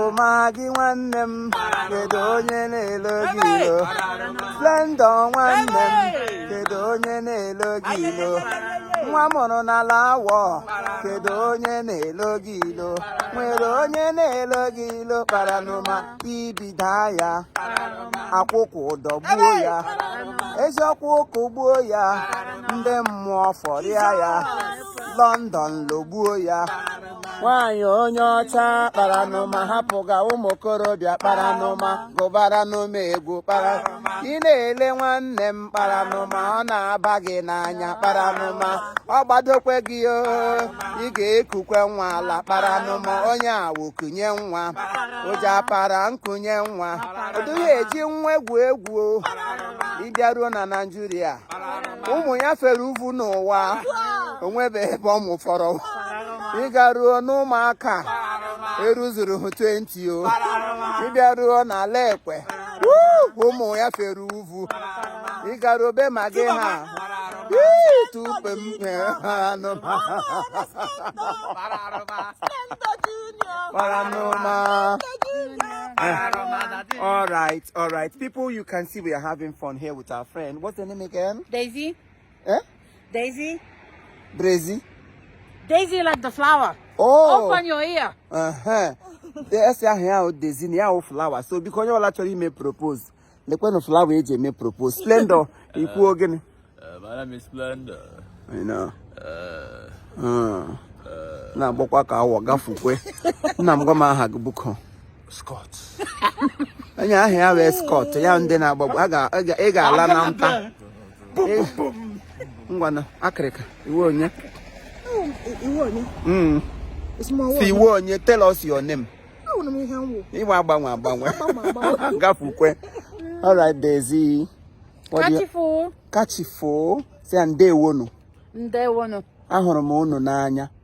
ụma gị nwanne m kedu onye na-elo gị ilo Splendor nwanne m kedu onye na-elo gị ilo nwa a mụrụ n'ala Awo kedu onye na-elo gị ilo nwere onye na-elo gị ilo kparanụma ibi daa ya akwụkwụ dọgbuo ya eziokwu ụkwụ gbuo ya ndị mmụọ fọrịa ya London logbuo ya nwaanyị onye ọcha kparanụma hapụga ụmụ okorobịa kparanụma gụbaranụ m egwu kpara ị na-ele nwanne m kparanụma ọ na-aba gị n'anya kparanụma ọ gbadokwe gị o ị ga-ekukwe nwa ala kparanụma onye Awo kunye nwa ụja para nkunye nwa ọ dịghị eji nwa egwu egwu o ị bịaruo na naịjirịa ụmụ ya fere uvu n'ụwa o nwebeghị ebe ọ mụfọrọ ị garuo n'ụmụaka eruzuru hụ 20 o ị bịaruo n'ala ekwe ụmụ ya fere uvu ị garuo be ma gị ha tupe m kparanụma. all right, all right. People, you can see we are having fun here with our friend. What's the name again? Daisy. Eh? Daisy. Brazy. Daisy like the flower. Oh. Open your ear. Uh-huh. a sị aha ya wụ Daisy na ya wụ flower so biko onye ọla chọrọ ime propose lekwanụ flower e ji eme propose splendor i kwuo gịnị na-agbakwa ka Awo gafukwe nna m gwa m aha gị biko Scott. onye aha ya wụ Scott ya ndị na-agbagbu ị ga-ala na nta ngwana akịrịka ị wụ onye hmm. sị ị wụ onye tell us your name ị wụ agbanwe agbanwe gafukwe all right Daisy kachifo say ndewonu ndewonu ahụrụ m unu n'anya